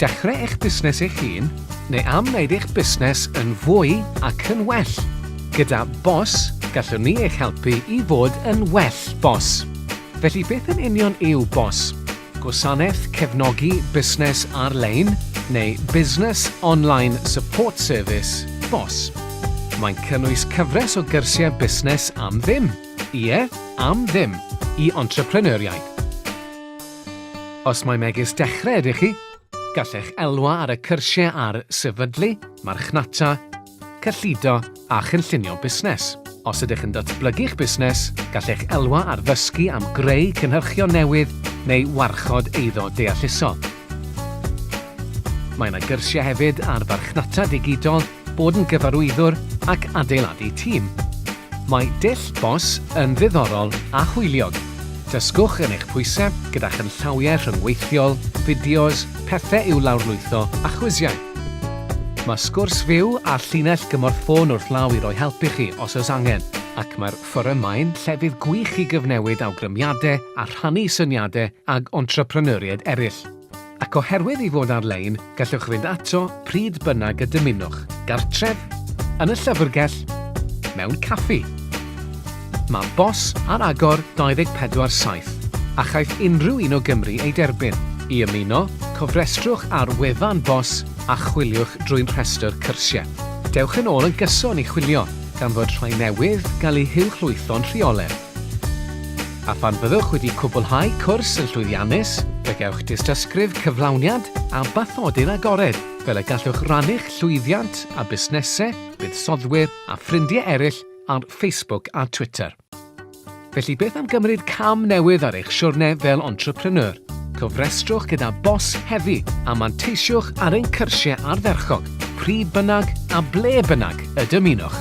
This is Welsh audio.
Dechrau eich busnes eich hun neu am wneud eich busnes yn fwy ac yn well. Gyda BOS, gallwn ni eich helpu i fod yn well BOS. Felly beth yn union yw BOS? Gwasanaeth Cefnogi Busnes Ar-lein neu Business Online Support Service, bos. Mae'n cynnwys cyfres o gyrsiau busnes am ddim, ie, am ddim, i entrepreneuriaid. Os mae megis dechrau ydych chi, gallech elwa ar y cyrsiau ar sefydlu, marchnata, cyllido a chynllunio busnes. Os ydych yn datblygu'ch busnes, gallech elwa ar ddysgu am greu cynhyrchion newydd neu warchod eiddo deallusol. Mae yna gyrsiau hefyd ar farchnata digidol, bod yn gyfarwyddwr ac adeiladu tîm. Mae dull BOSS yn ddiddorol a hwyliog. Dysgwch yn eich pwysau gyda chynllawiau rhyngweithiol, fideos, pethau i'w lawrlwytho a chwisiau. Mae sgwrs fyw a llinell gymorth ffôn wrth law i roi help i chi os oes angen, ac mae'r fforym mae'n llefydd gwych i gyfnewid awgrymiadau a rhannu syniadau ag entrepreneuriaid eraill. Ac oherwydd ei fod ar-lein, gallwch fynd ato pryd bynnag y dymunwch, gartref, yn y llyfrgell, mewn caffi. Mae bos ar agor 24 saith, a chaiff unrhyw un o Gymru ei derbyn. I ymuno, cofrestrwch ar wefan bos a chwiliwch drwy'n rhestr cyrsiau. Dewch yn ôl yn gyson i chwilio, gan fod rhai newydd gael eu huwchlwytho'n rheoledd. A phan fyddwch wedi cwblhau cwrs yn llwyddiannus, fe gewch dystysgrif cyflawniad a bathodyn agored, fel y gallwch rannu'ch llwyddiant â busnesau, buddsoddwyr a ffrindiau eraill ar Facebook a Twitter. Felly beth am gymryd cam newydd ar eich siwrne fel entrepreneur? Cofrestrwch gyda bos hefi a manteisiwch ar ein cyrsiau ardderchog, pryd bynnag a ble bynnag y dymunwch.